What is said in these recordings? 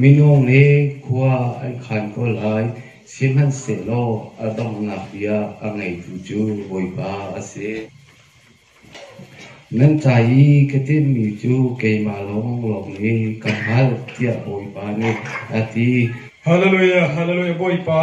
Minung nih khua an khan ko lai, sihmanhsehlaw a donghnak bia a ngeitu cu Bawipa a si. Nan ca i ka timhmi cu keimah lawnglawng nih ka hngalh, tiah Bawipa nih a ti. Halleluijah, Halleluijah, Bawipa!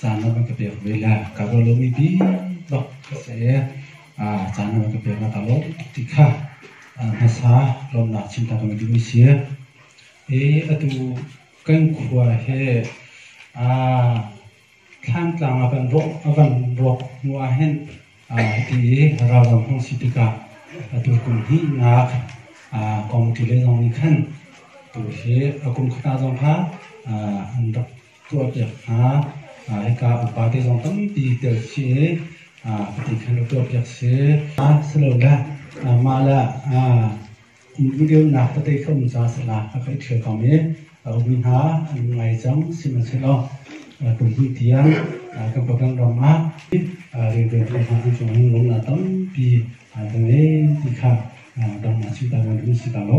caan na van ka pek ve le ka ruah lomi bik ka si i caan na van ka pek na ka lawm tuk ti kha hmasa lawmnak chimta kan duhmi si i atu kan khua he thlantlang a van ruak a van ruak hnu ah hin hiti i ralram hong si tikah atu kum hihnak kong ti le zong nih khan tu hi a kum khata zong kha an rak tuahpiak hna. Hika upate zong tampi telchih i patin khan tuahpiak si. Silole mah le videonak patei kha um ca salah a kan ṭhial kong i a um hna an ngai cang sihmanhsehlaw kum hnih tiang kan program ram ah rianṭuan hna an cung hin lawmnak tampi kan ngei ti kha dang a chim ta kan hun si ta lo.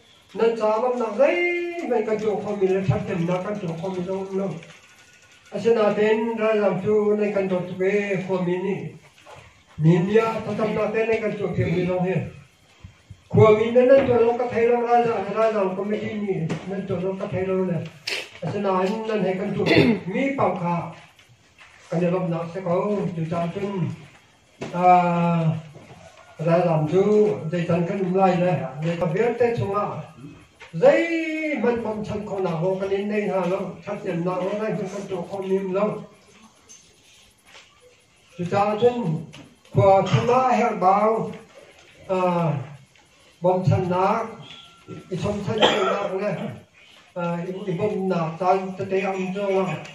Nan caah lawmhnak zeihmanh kan tuah khomi le ṭhatnemnak kan tuah khomi zong a um lo. Asinain ralzaam cu nan kan dawt tuk ee khuami nih mi bia thlacamnak te nan kan tuahpiakmi zong hi khuami nan nan tuah lo ka thei lo ralzaam le ralzaam committee nih nan tuah lo ka thei lo le asinain nan he kan tuahmi pang kha kan i lawmhnak si ko cucaah cun Ralzaam cu zeican kan um lai le leika vialte chungah zeihmanh bawmchan khawhnak aw kan in nei hna lo, ṭhathnemnak aw zeihmanh kan tuah khomi um lo. Cucaah cun khua chungah herhbau Bawmchannak, i chomchan cawlnak le i bawmnak caan tete ang cawlnak.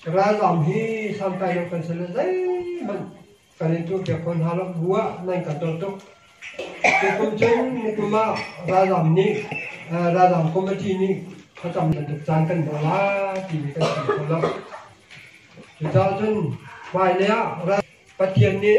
Ralzam hi sangkai lo kan sale zeihmanh kan in tur piak khon hna lo bua nan kan tor tuk. Nikum cun nikum ah ralzam nih ralzam committee nih thlacam bantuk caan kan hmu la ti mi kan chim kho lo. Cucaah cun hmailei ah Pathian nih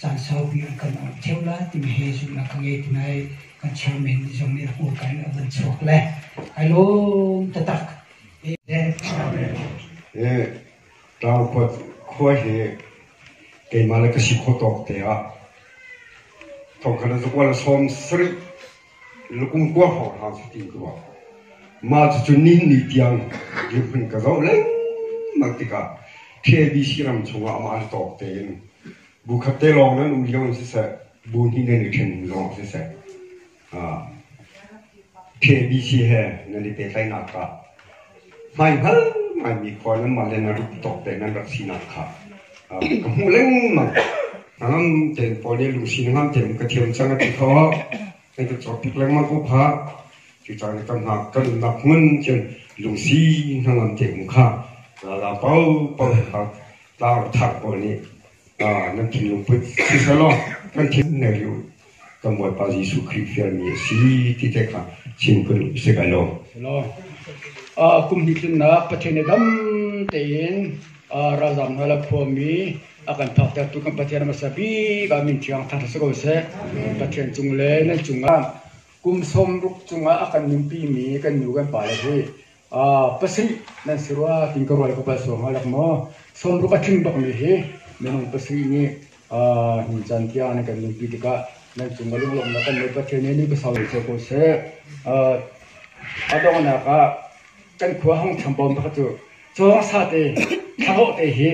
caan saupi a kan awnh theo lai timi he zumhnak ka ngei ti lai. Kan chairman zong nih a hawkan a van chuak le ai lawm tatak. He tau kuat khua he keimah le ka si kho tawk te ah thongkhat zuk wal som sri Lukungkuar hawng hram cutin ka ruah. Mah cucu ninni tiang dirhmun ka zoh lengmang tikah KBC ram chungah amah an tawk tein bu khat te lawng nan um lio in siseh, bu hnih nan i ṭhen lawng siseh, KBC he nan i pehtlaihnak ah hmaihngal ngaimi khua nanmah le na rit tawk te nan rat sinak kha ka hmuh lengmang ngam ten paul le lucy na ngam ten ka thiam chang a ti kho na ka chawp pik lengmang ko pha cu cang kan ha kan nak ngun chen lucy na ngam te um kha rala pau pau kha ta thar ko ni nan thin lung put si salo kan thin ne lu kan Bawipa Jesuh Khrih fialmi a si ti te kha chim phun si kai lo. Kum hnih tlunnak Pathian i dam tein ralzam hna le khuami a kan thaktertu kan Pathian a hmasa bik ah min thiang thar si ko seh. Pathian cung le nan cungah kum sawm ruk cungah a kan nunpi mi kan nu kan pa le hi Pasarih nan si rua tiin ka rual ka pal sual hnga lek maw? Sawmruk a tling bikmi hi minung pasarih nih nuncan tiang an i kan nunpi tikah nan cung a lunglawmhnak kan Bawi Pathian nih ni pasau in ser ko seh. A donghnak ah kan khua hong thiam pawm pakhat cu cawng sate thlarawh te hi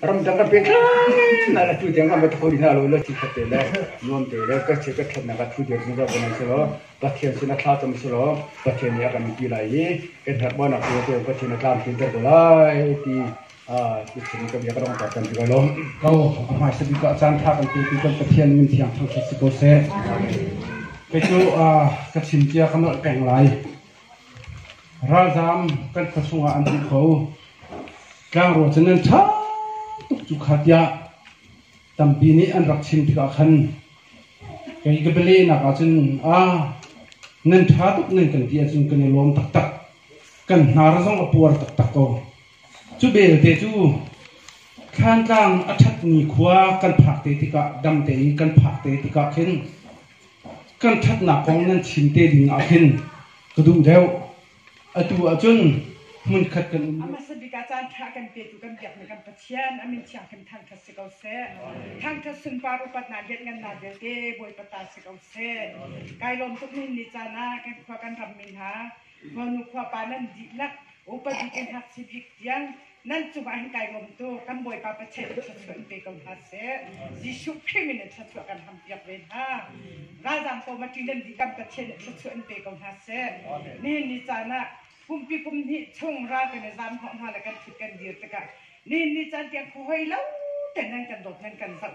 ramdang kan pehtlai na la tu tiang kan va kho rihna lo lo ti khat te le nuam te le ka che ka thatnak a thu dir zungzal ko nan si law Pathian sinah thla cam selaw Pathian nih a kan ti lai i kan herhbaunak tu cu Pathian a tlamtlinter ko lai ti biachim ka bia ka donghter kan ti lai lawm ko a hmaisa bik ah caanṭha kan petu kan Pathian min thiang thangṭhat si ko seh kei cu ka chim cia ka nolh peng lai ralzaam kan khua chungah an tih kho tlangrual cu nan ṭha tuk cu kha tiah tampi nih an rak chim tikah khan kei ka bialehnak ah cun a nan ṭha tuk nan kan ti ahcun kan i lawm taktak kan hnar zong a puar taktak ko cu belte cu thlantlang a ṭhatmi khua kan phak te tikah dam tein kan phak te tikah khin kan ṭhatnak kong nan chim te ding ah khin ka duh deuh Atu ah cun hmunkhat kan um. Amah San Bik ah caanṭha kan petu kan biakmi kan Pathian a min thianghlim thangṭhat si ko seh. Thangṭhat sunpar upatnak lianngannak vialte Bawipa ta si ko seh. Kai lawm tuk ni ni caan ah kan khua kan rammi hna, khuanu khuapa nan dihlak, upat bik in hngakchia bik tiang nan cungah hin kai bawm tu kan Bawipa Pathian nih thluachuah pe ko hna seh. Jesuh Khrih min in thluachuah kan hampiak ve hna. Ralzaam paw ma ṭi nan dih kan Pathian nih thluachuah in pe ko hna seh. Nihin ni caan ah kumpi kum hnih chung ral kan i zaam hnawh hna le kan ṭhut kan dir tikah nihin ni caan tiang huhoi lo tein nan kan dawt nan kan zoh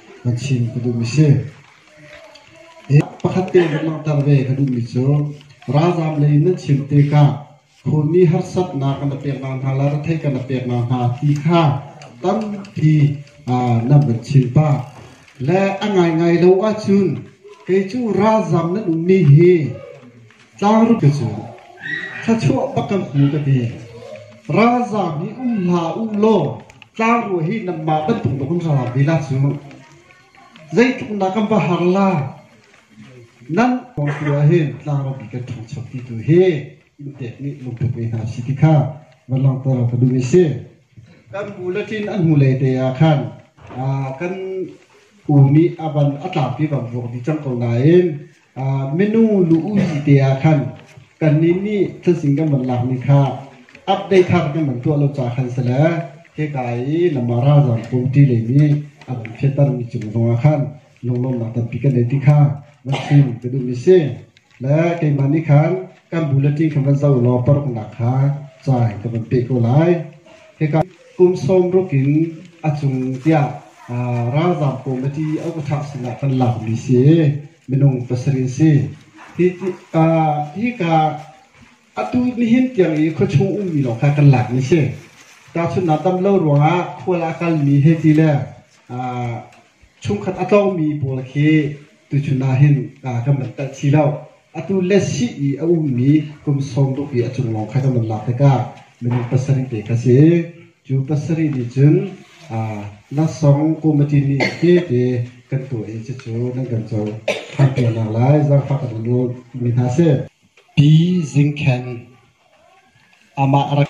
Pakhat te kan langhter ve ka duhmi cu ralzaam lei in nan chim tikah khunmi harsatnak kan rak pek nakhnga, retheih kan rak pek nakhnga ti kha tampi nan van chim pah. Le a ngaingai lo ahcun kei cu ralzaam nan ummi hi Tlangpi cu thluachuah va kan pu ka ti. Ralzaam nih um hlah u law tlangrual hi nanmah bantuk na vun ralzaam vila cu zeitluk na kan va har la. Nan kong tu ahhin tlangrampi kan ṭhangcho ti tu hi inn pek nih lungput ve hna si ti kha van langhter ka duh i si. Kan bu le ṭin an hnulei te ah khan kan u nih a van a tlangpi van vuak dih cang ko nain Minung lu-uhi te ah khan kannih nih thilsing kan van lakmi kha update thar kan van tuah lo caah khan si le hika i Lamar ralzaam kawmṭi lei nih a van fehtermi cung zongah khan lunglawmnak tampi kan ngei ti kha van chim ka duhmi a si. Le keimah nih khan kan bulletin kha van zoh law paruknak kha cai ka van peh ko lai. Hika Kum sawmruk in a cung tiah ralzaam komiti a ukthang sinah kan lakmi si i minung pasarih an si. Hi ka atu nihin tiang i khuachung ummi lawng kha kan lakmi si. Tahchunhnak dam lo ruangah khual a kalmi hei ti le Chungkhat a tlawngmi pawl khi tuchun ah hin kan van telh si lo. Atu le sih i a ummi kum sawmruk i a cung lawng kha kan van lak tikah minung pasarih te kha si. Cu pasarih nih cun Lasong Committee nih tete kan tuah i cucu nan kan co ṭhan piaknak lai zaangfah kan in ngolmi hna si. Pi Zing Khen Amah rak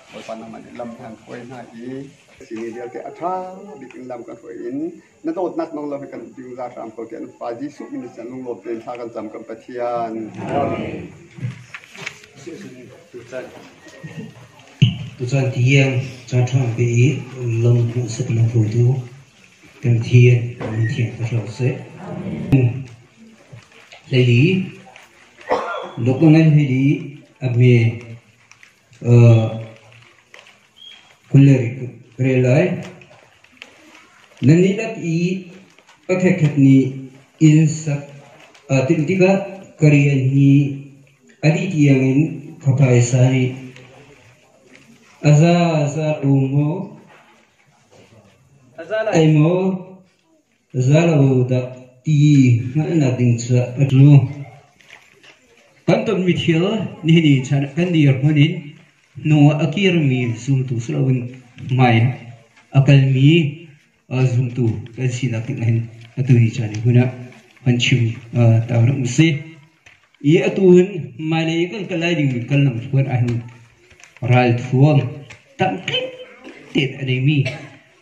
Bawipa nangmah nih lam kan hruai hna i sihni vialte a ṭha bik in lam kan hruai in na dawtnak nong lo hi kan dingzar hram ko tiah Pa Jesuh min i chan lunglaw tein thla kan cam kan Pathian. Tuchan tiang ca ṭhang te i lam hmuh sak na hruaitu kan thian nan thian ka hlau seh. Hlei li, lok na ngai hlei li, a hme Khualeng re lai. Na nihlak i pakhatkhat nih inn sak aa timh tikah ka rian hi a dih tiang in ka phaisa rih. A za za ko maw? Ai maw? Za lo dah ti hngalhnak ding cu a tu kan tonmi thil nihin i chan kan dirhmun in hnu a kirmi zumtu si loin hmai a kalmi zumtu kan sinak ding hin atu ni caan i hun ah kan chim ta hram usih. I atu hin hmailei kan kal lai dingmi kal lam thluan ahhin ralthuam tamkik tein a neimi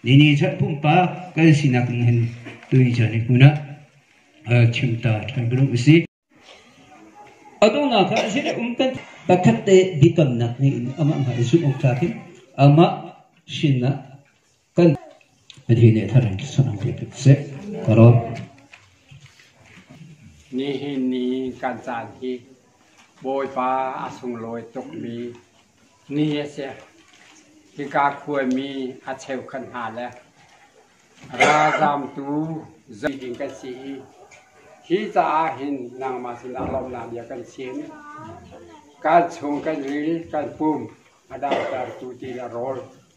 Nini chan pumpak kan sinak ning hin tuni chan i hmun ah chim ta ṭhan ko usih. Adonah kha a sile um kan pakhat te biakamnak ngeiin amah hnga i zumh awk tlak in amah sinah kan Pathian nih thar in sanang te ko seh. Karo. Nihin ni kan caan hi Bawipa a sunglawi tukmi Ni a si. Hika khuami a cheukhat hna le ralzamtu zei ding kan si i hi caah hin nangmah sinah lawmhnak bia kan chim. Kan chung kan ril, kan pum a damtertu ti le rawl